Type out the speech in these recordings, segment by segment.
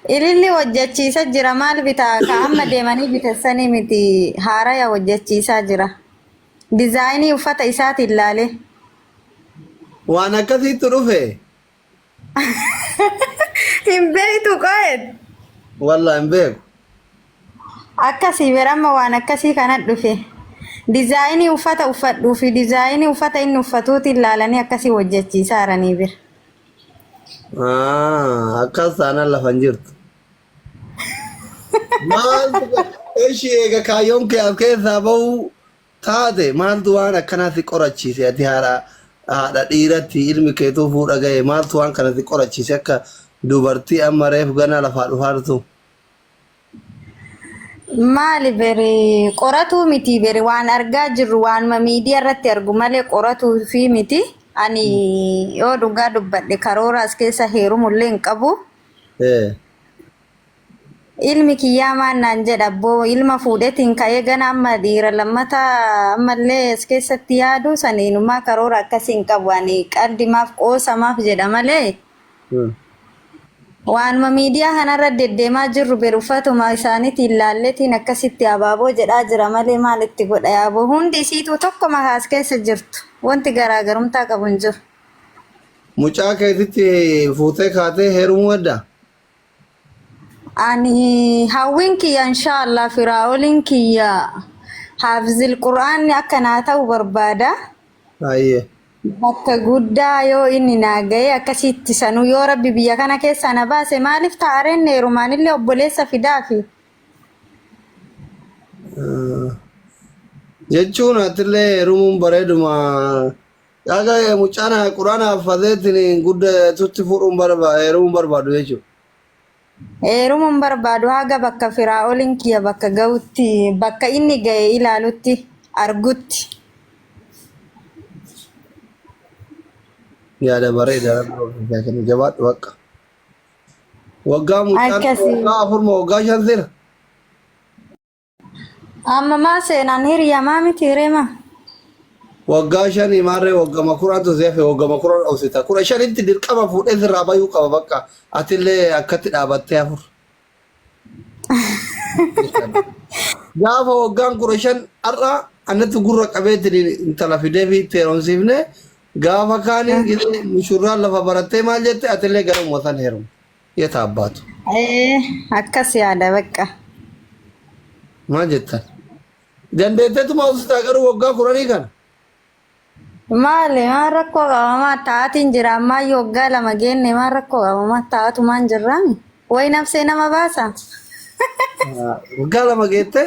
Ililli hojjachiisa jira maal bitaa ka amma deemanii bitessanii miti haaraya hojjachiisaa jira dizaayinii uffata isaatiin laalee. Waan akkasiittu dhufe. Hin beektu qo'eet. Wallah hin beeku. Akkasii bira amma waan akkasii kana dhufe dizaayinii uffata uffadhuu fi dizaayinii uffata inni uffatuutiin laalanii akkasii hojjachiisaa jiranii bira. Ah, akkas taanaan lafa hin jirtu. Maaltu eshi eega kaayyoon kee as keessaa ba'uu taate maaltu waan akkanaa si qorachiise ati haadha haadha dhiiratti ilmi keetuu fuudha ga'e maaltu waan kana si qorachiise akka dubartii amma reef ganaa lafaa dhufaa jirtu. Maali bere qoratuu miti bere waan argaa jirru waanuma miidiyaa irratti argu malee qoratuu fi miti. Ani yoo dhugaa dubbadhe karoora as keessa heerumu illee hin qabu. Eh, Ilmi kiyyaa maan naan jedha abboo ilma fuudhetiin ka'ee gana amma dhiira lammata ammallee as keessatti yaadu saniinumaa karoora akkasii hin qabu. Ani qaldi maaf qoosa maaf jedha malee. Waanuma miidiyaa kanarra deddeemaa jirru ber uffatuma isaaniitiin laalletiin akkasitti abaaboo jedhaa jira malee maal itti godha yaaboo hundi isiituu tokkuma kaas keessa jirtu wanti garaagarumtaa qabu hin jiru. Mucaa keetitti fuutee kaatee heerumuu hedda? Ani hawwiin kiyya inshaallah firaa'oliin kiyya haafizil qur'aanni akka naa ta'u barbaada. Ayyee. Bakka guddaa yoo inni naa ga'ee akkasitti sanuu yoo rabbi biyya kana keessaa na baase maaliif taa'areen heerumaanillee obboleessa fidaafi. Jechuun atillee heerumuun bareeduma Yaga mucana qurana fadeetini gudda tutti fudhuun barba heeruun barbaadu jechu. Heerumuu hin barbaadu haga bakka Firaa'oliin kiyya bakka ga'utti bakka inni ga'e ilaalutti argutti. Yaada bareeda rabbi ofiif haa kennu jabaadhu bakka. Waggaa mucaan Akkasi. waggaa afur moo waggaa shan sira? Amma maa seenaan hiriyaa maa miti hiree maa? Waggaa shanii maarree waggama kuraatu si hafe waggama kuran obsita. Kudha shanitti dirqama fuudhee sirraa bayuu qaba bakka. Atillee akkatti dhaabattee hafur. Gaafa waggaan kudha shan har'a annatti gurra qabeetiin intala fidee fi itti heerumsiifne gaafa kaanii mushurraan lafa barattee maal jette atillee gara uummataan heerumu. Yeta abbaatu. Ee, akkas yaada bakka. Maal jettan? Dandeetteetuma ustaa garuu waggaa kuranii kana. Maali maal rakkoo qaba maal taa'atiin jira ammaa yoo waggaa lama geenne maal rakkoo qaba maal taa'atumaan jirraami. Wayi nabsee nama baasa. Waggaa lama geette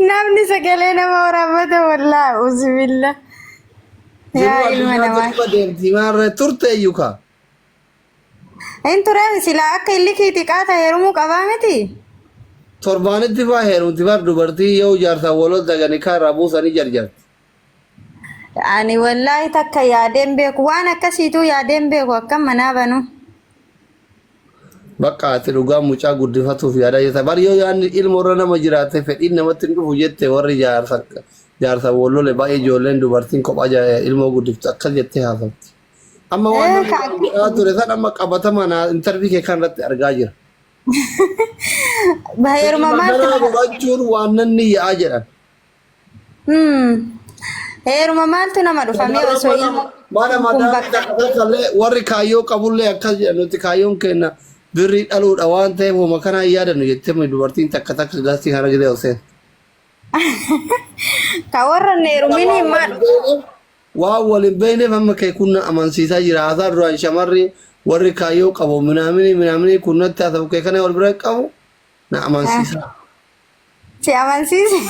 Namni sagalee nama waraabata wallaa uzubilla. Jiruu Yaa ilma addunyaa namaa. tokko deemti maarra turte iyyuu kaa. Hin ture sila akka illi kee xiqqaa ta'e heerumuu qabaa miti. Torbaanitti faa heerumti bar dubartii yoo jaarsaa waloota gani kaa irraa buusanii jarjarti. Ani wallaahi takka yaadeen beeku waan akkasiituu yaadeen beeku akkam manaa banu. Bakka ati dhugaa mucaa guddifatuuf yaadaa jirta. Bar yoo yaadni ilma irra nama jiraate fedhiin namatti hin dhufu jette warri jaarsa jaarsa wallole baay'ee ijoolleen dubartiin kophaa jaa- ilmoo guddiftu akkas jettee haasofti. Amma waan Eh, namni kan- irraa godhaa ture san amma qabatama naa intarvii kee kan irratti argaa jira. Baheeruma Fedhii maal magaalaa godhachuun waan namni yaa'a jedhan. Hmm. Heeruma maaltu nama dhufa mee osoo ilmoo Mana kun madaa bakka miidhaa qabee kallee warri kaayyoo qabullee akkas jedha nuti kaayyoon keenya birrii dhaluudha waan ta'eef homa kanaa hin yaadannu jettee mi dubartiin takka takka gaasii kana gidee oseen. ka warra hin heerumin hin maa dhufa. Waan waliin beekneef amma kee kun na amansiisaa jira haasaa duraan shamarri warri kaayyoo qabu minaaminii minaaminii kun natti haasa'u kee kana wal bira qabu na amansiisaa. Si amansiise.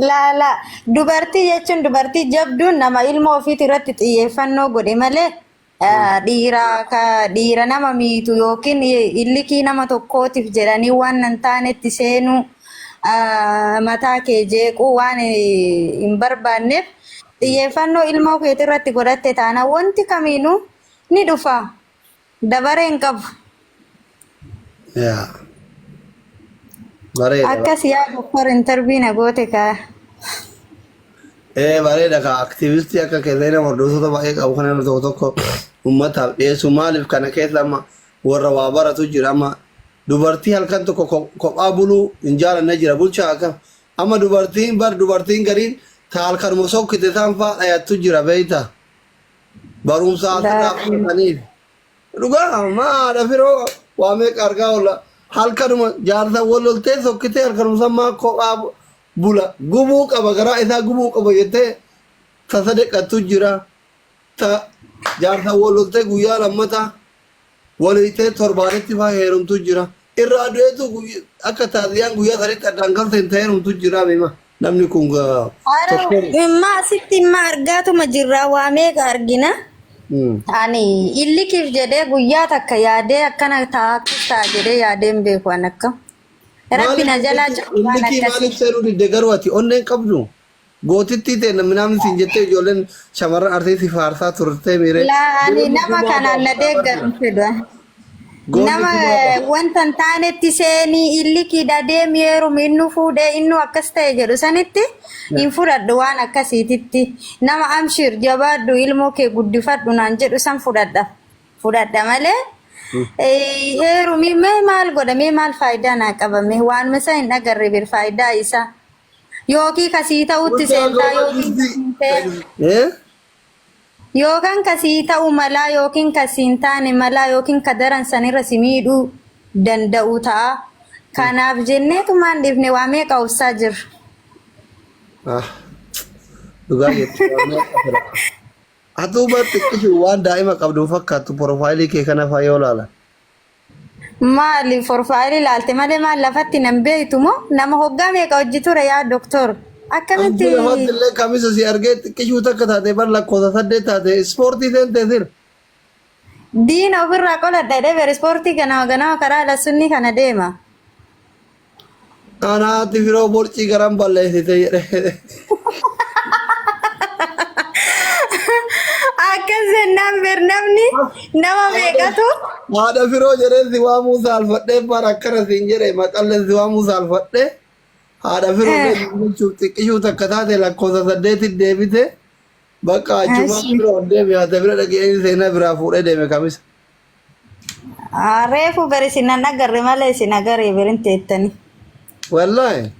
Laala dubartii jechuun dubartii jabduun nama ilmoo ofiiti irratti xiyyeeffannoo godhe malee eh, dhiira ka- dhiira nama miitu yookiin illikii nama tokkootiif jedhanii waan hin taanetti seenuu eh, mataa kee jeequu waan eh, hin barbaanneef xiyyeeffannoo ilmoo keetii irratti godhatte taana wanti kamiinuu ni dhufa. Dabaree hin qabu. Yaa. Bareeda. Akkas yaa doktor intervii na goote kaa. Ee bareeda kaa aktiivistii akka keessa nama hordoftoota baay'ee qabu kan nama tokko tokko uummataaf dhiyeessu maaliif kana keessa amma warra waa baratu jira amma dubartii halkan tokko ko- kophaa buluu hin jaalanne jira bulchaa akka amma dubartiin bar dubartiin gariin ta halkanuma sokkite isaan faa dhayattu jira beeyta. barumsa asirraa Laakii. fudhataniif. Dhugaa maa haadha firoo waa meeqa argaa oolla halkanuma jaarsa wal loltee sokkitee halkanuma san maa kophaa bu- bula gubuu qaba garaa isaa gubuu qaba jettee ta sadeqattu jira ta jaarsa wal loltee guyyaa lammataa Waliitee torbaanitti faa heerumtu jira. Irraa du'eetu akka taaziyaan guyyaa sanitti addaan galteen ta heerumtu jira beema. Namni kun tokkoon. Immaa asitti immaa argaatuma jirraa waa meeqa argina. Ani illikiif jedhee guyyaa takka yaadee akkana ta'a akkas ta'a jedhee yaadee hin beeku an akka. Rabbi na jalaa cufu waan Illikii maaliif akkasii. seenuu didde garuu ati onneen qabdu? Gootittii teenna minaamni siin jettee ijoolleen shamarran Arsii si faarsaa turtee miiree. Laa ani Goonni nama gumaa kanaan baafta na abbaa deeggaru kanaa. fedha. Goonni Nama gumaa eh, baafta. wanta hin taanetti seenii illikiidha deemi heerumi innu fuudhee innu akkas ta'e jedhu sanitti hin fudhadhu waan akkasiititti. Nama amshiir jabaadhu ilmoo kee guddifadhu naan jedhu san fudhadha. Fudhadha malee eh, heerumi mee maal godha mee maal faayidaa naa qaba mee waanuma isaa hin agarre bir faayidaa isaa. Yookiin ka sii ta'utti seentaa yookiin ka siin ta'e. Eh? Yookaan ka sii ta'u malaa yookiin ka siin taane malaa yookiin ka daran sanirra si miidhuu danda'u ta'a. Kanaaf jenneetumaan dhiifne waa meeqa obsaa jirra. Ah. Dhugaa jette. Atuuma xiqqishu waan daa'ima qabdu hin fakkaattu porofaayilii kee kana fa'aa yoo ilaalan. Maali forfaayilii laalte malee maal lafatti nan beektu moo nama hoggaa meeqa hojji ture yaa doktor akkamitti Abdii lafatti illee kamisa si argee xiqqishuu takka taate bar lakkoofsa saddeet taate ispoortii seentee sir. diina ofirraa qoladha jedhee ber ispoortii ganama ganama karaa lassunnii kana deema. Anaatti firoo borcii garan balleessite jedhe. Akkas jennaan ber namni nama meeqatu Haadha firoo jedhee si waamuu saalfadhee bara akkana siin jedhe maqallee si waamuu saalfadhee haadha firoo Eh. deebiin jechuuf xiqqishuu takka taate lakkoofsa saddeetti deebite bakka achumaan Ashi. firoo deeme haadha bira dhaqee seenaa biraa fuudhee deeme kamisa. Ah, Reefu bari isin nan agarre malee isin agaree birin teettanii. Wallaahi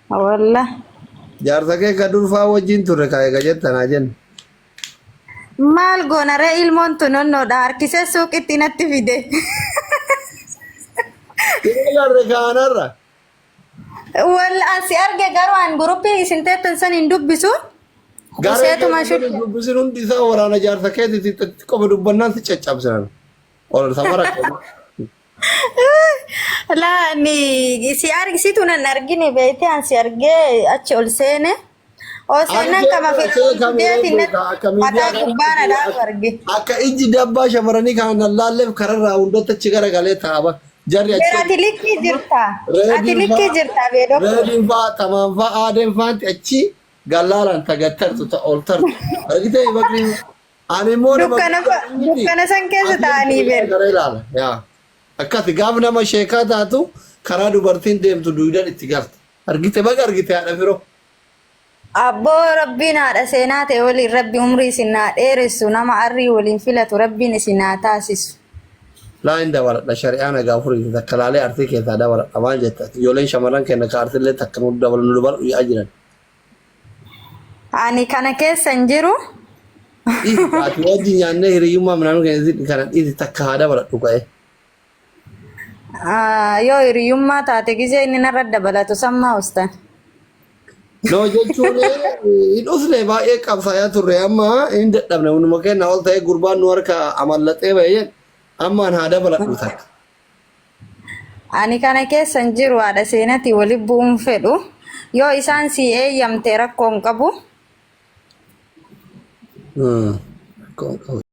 Walla. jaarsa kee ka durfaa wajjin turre ka eega jettanaa jenna. Maal goona ree ilmoon tun onnoodha harkisee suuqitti natti fide. Ilaalarre kaanarra. Wal an si arge garuu an guruppii isin teettan san hin dubbisu. Garee Huseetuma keessa shudhe. jiru dubbisin hundi isaa waraana jaarsa keetiiti itti qofa dubbannaan si caccabsinan. Ol samara qaba. Laa ni si argisitu nan argine beekte an si argee achi ol seene. Osoo nan kama fedhuu deetiin natti mataa gubbaana dhaabu arge. Akka ijji dabbaa shamaranii kana nan laalleef kararraa hundatti achi garagalee taaba. Jarri achi Ati likkii jirta. Ati likkii jirta beedoo. Reediin fa'aa, tamaan fa'aa, aadeen fa'aanti achi gallaalaan tagattartu ta oltartu. Argitee bakri ani immoo nama Dukkana fa- dukkana san keessa taa'anii beeku. Gara ilaala. Yaa. Akkasi gaaf nama sheekaa taatu karaa dubartiin deemtu duudan itti galta. Argite baga argite haadha firo. Abboo rabbiin haadha seenaa ta'e waliin rabbi umrii isin haa dheeressu nama arrii waliin filatu rabbiin isin haa taasisu. Laa hin dabaladha shari'aa nagaa furiiti takka laalee artii keessaa dabaladha maal jetta ijoolleen shamarran kenna ka artillee takka nu dabalu nu dabalu yaa'aa jiran. Ani kana keessa hin jiru. Dhiisi ati wajji nyaannee hiriyyummaa minaanuu keenya kana dhiisi takka haa dabaladhu ka'ee. Ah, Yoo hiriyummaa taate gizee inni narra dabalatu sammaa ustan. No jechuun hin usne baay'ee qabsaayaa turre amma hin dadhabne hunduma keenya ol ta'ee gurbaan nu harka amallaxee bayyeen ammaan haa dabaladhu takka. Ani kana keessa hin jiru haadha seenatii wali bu'uun fedhu. Yoo isaan si eeyyamte rakkoo hin qabu. Hmm. Rakkoo hin qabu.